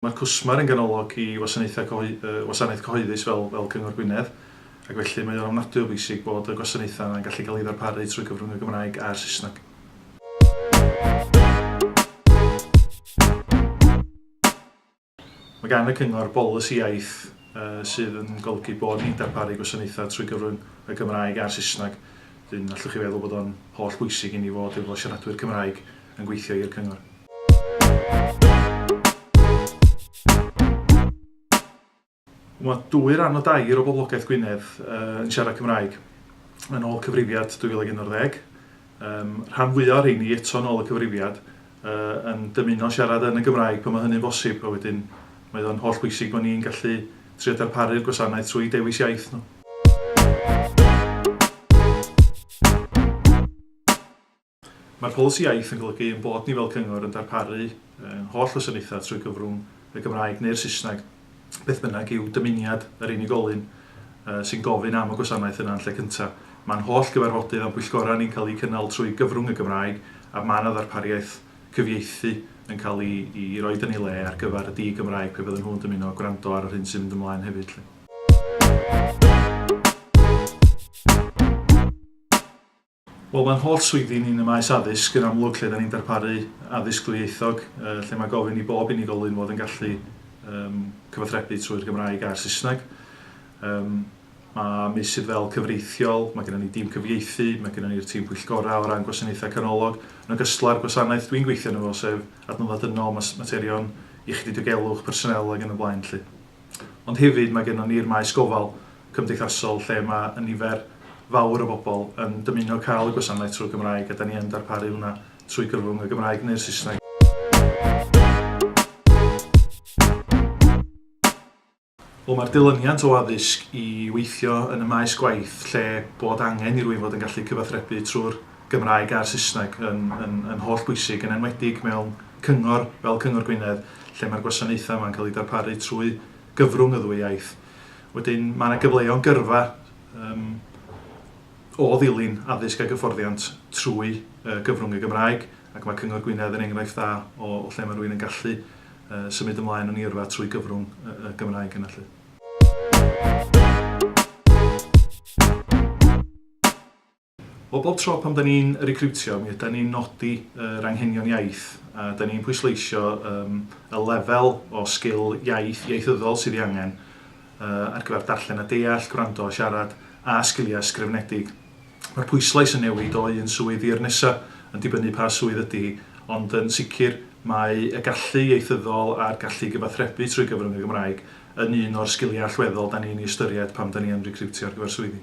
Mae cwsmer yn ganolog i wasanaethau Gwasanaeth Cyhoeddus fel Cyngor Gwynedd ac felly mae o'n ofnadwy o bwysig bod y gwasanaethau yna'n gallu cael eu ddarparu trwy gyfrwng y Gymraeg a'r Saesneg. Mae gan y Cyngor bolisi iaith sydd yn golygu bod ni'n darparu gwasanaethau trwy gyfrwng y Gymraeg a'r Saesneg, wedyn allwch chi feddwl bod o'n holl bwysig i ni fod efo siaradwyr Cymraeg yn gweithio i'r Cyngor. Mae dwy ran o dair o boblogaeth Gwynedd yn siarad Cymraeg, yn ôl cyfrifiad 2011. Rhan fwyaf o'r rheini, eto yn ôl y cyfrifiad, yn dymuno siarad yn y Gymraeg pan mae hynny'n bosib, a wedyn mae o'n holl bwysig bod ni'n gallu trio darparu'r gwasanaeth trwy dewis iaith nhw. Mae'r polisi iaith yn golygu ein bod ni fel cyngor yn darparu ein holl wasanaethau trwy gyfrwng y Gymraeg neu'r Saesneg, beth bynnag yw dymuniad yr unigolyn sy'n gofyn am y gwasanaeth yna yn lle cyntaf. Mae'n holl gyfarfodydd a'n pwyllgorau ni'n cael eu cynnal trwy gyfrwng y Gymraeg a mae yna ddarpariaeth cyfieithu yn cael ei roed yn ei le ar gyfer y di-Gymraeg pe fydden nhw'n dymuno gwrando ar yr hyn sy'n mynd ymlaen hefyd 'lly. Wel, mae'n holl swyddi ni yn y maes addysg yn amlwg lle da ni'n darparu addysg dwyieithog, lle mae gofyn i bob unigolyn fod yn gallu um, cyfathrebu trwy'r Gymraeg a'r Saesneg. Um, mae meysydd fel cyfreithiol, mae gennym ni dîm cyfieithu, mae gennym ni'r tîm pwyllgorau o ran gwasanaethau canolog, yn ogystal â'r gwasanaeth dwi'n gweithio yn efo, sef adnoddau dynol, materion iechyd i diogelwch, personel ac yn y blaen. Lly. Ond hefyd mae gennon ni'r maes gofal cymdeithasol lle mae y nifer fawr o bobl yn dymuno cael y gwasanaeth trwy'r Gymraeg a 'da ni yn darparu hwnna trwy gyfrwng y Gymraeg neu'r Saesneg. Wel mae'r dilyniant o addysg i weithio yn y maes gwaith lle bod angen i rywun fod yn gallu cyfathrebu trwy'r Gymraeg a'r Saesneg yn yn yn holl bwysig, yn enwedig mewn cyngor fel Cyngor Gwynedd, lle mae'r gwasanaethau yma'n cael eu darparu trwy gyfrwng y ddwy iaith. Wedyn, mae yna gyfleon gyrfa yym o ddilyn addysg ag hyfforddiant trwy yy gyfrwng y Gymraeg, ac mae Cyngor Gwynedd yn enghraifft dda o o lle mae rhywun yn gallu yy symud ymlaen yn ei yrfa trwy gyfrwng y y Gymraeg yna 'lly. Wel, bob tro pan 'da ni'n recriwtio, mi ydan ni'n nodi yr anghenion iaith, a 'da ni'n pwysleisio yym y lefel o sgil iaith ieithyddol sydd ei angen yy ar gyfer darllen a deall, gwrando a siarad, a sgiliau ysgrifenedig. Mae'r pwyslais yn newid o un swydd i'r nesa', yn dibynnu pa swydd ydi hi, ond yn sicr mae y gallu ieithyddol a'r gallu i gyfathrebu trwy gyfrwng y Gymraeg yn un o'r sgiliau allweddol 'da ni'n ei ystyried pan 'da ni yn recriwtio ar gyfer swyddi.